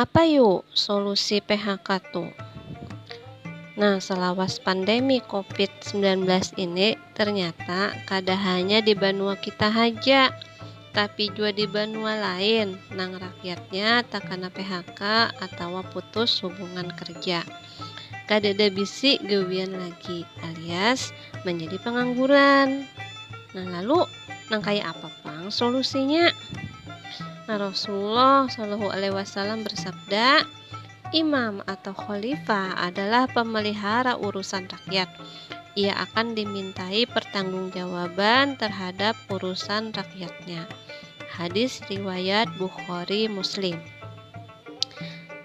Apa yu solusi PHK tu? Nah, selawas pandemi COVID-19 ini ternyata kada hanya di banua kita haja, tapi jua di banua lain nang rakyatnya takana PHK atawa putus hubungan kerja. kadada bisi gawian lagi alias manjadi pangangguran. Nah lalu nang kaya apa pang solusinya? Nah Rasulullah Shallallahu Alaihi Wasallam bersabda, imam atau khalifah adalah pemelihara urusan rakyat. Ia akan dimintai pertanggungjawaban terhadap urusan rakyatnya. Hadis riwayat Bukhari Muslim.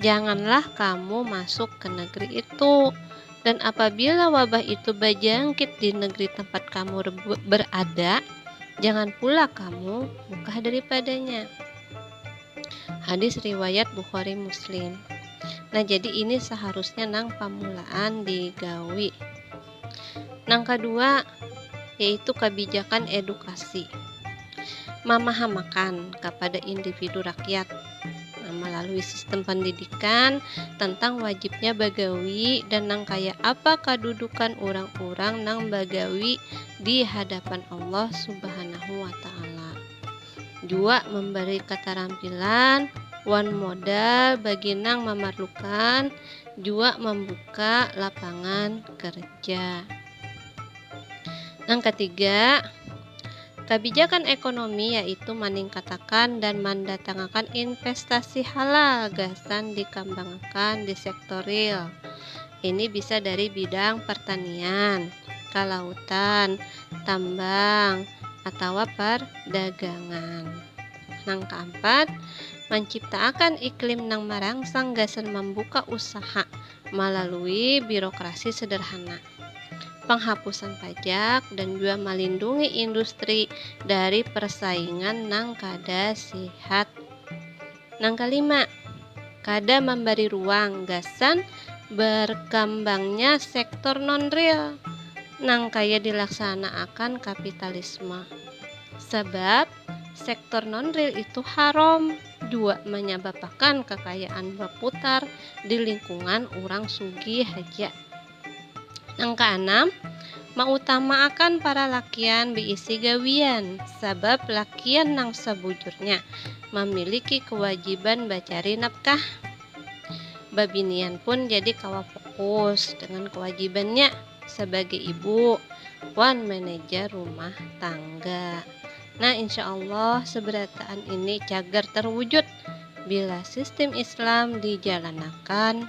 Janganlah kamu masuk ke negeri itu. Dan apabila wabah itu bajangkit di negeri tempat kamu berada, jangan pula kamu buka daripadanya. Hadis riwayat Bukhari Muslim. Nah, jadi ini seharusnya nang pamulaan digawi. Nang kadua yaitu kabijakan edukasi mamahamakan kapada individu rakyat malalui sistem pandidikan tentang wajibnya bagawi dan nang kaya apa kadudukan urang-urang nang bagawi di hadapan Allah Subhanahu wa Ta'ala. Dua, memberi katarampilan wan modal bagi nang mamarlukan jua mambuka lapangan kerja. Nang katiga, kabijakan ekonomi yaitu maningkatakan dan mandatangakan investasi halal gasan dikambangakan di sektor real. Ini bisa dari bidang pertanian, kalautan, tambang atawa pardagangan. Nang kaampat, manciptaakan iklim nang marangsang gasan mambuka usaha malalui birokrasi sederhana, panghapusan pajak, dan jua malindungi industri dari persaingan nang kada sihat. Nang kalima, kada mambari ruang gasan barkambangnya sektor non-real nang kaya dilaksanaakan kapitalisme. Sabab, sektor non-real itu haram jua manyababakan kakayaan baputar di lingkungan urang sugih haja. Nang kaanam, mautamaakan paralakian biisi gawian, sabab lakian nang sabujurnya mamiliki kawajiban bacari nafkah. Babinian pun jadi kawa fokus dengan kawajibannya sabagai ibu wan manajer rumah tangga. Nah, insya Allah sabarataan ini cagar terwujud bila sistem Islam dijalanakan.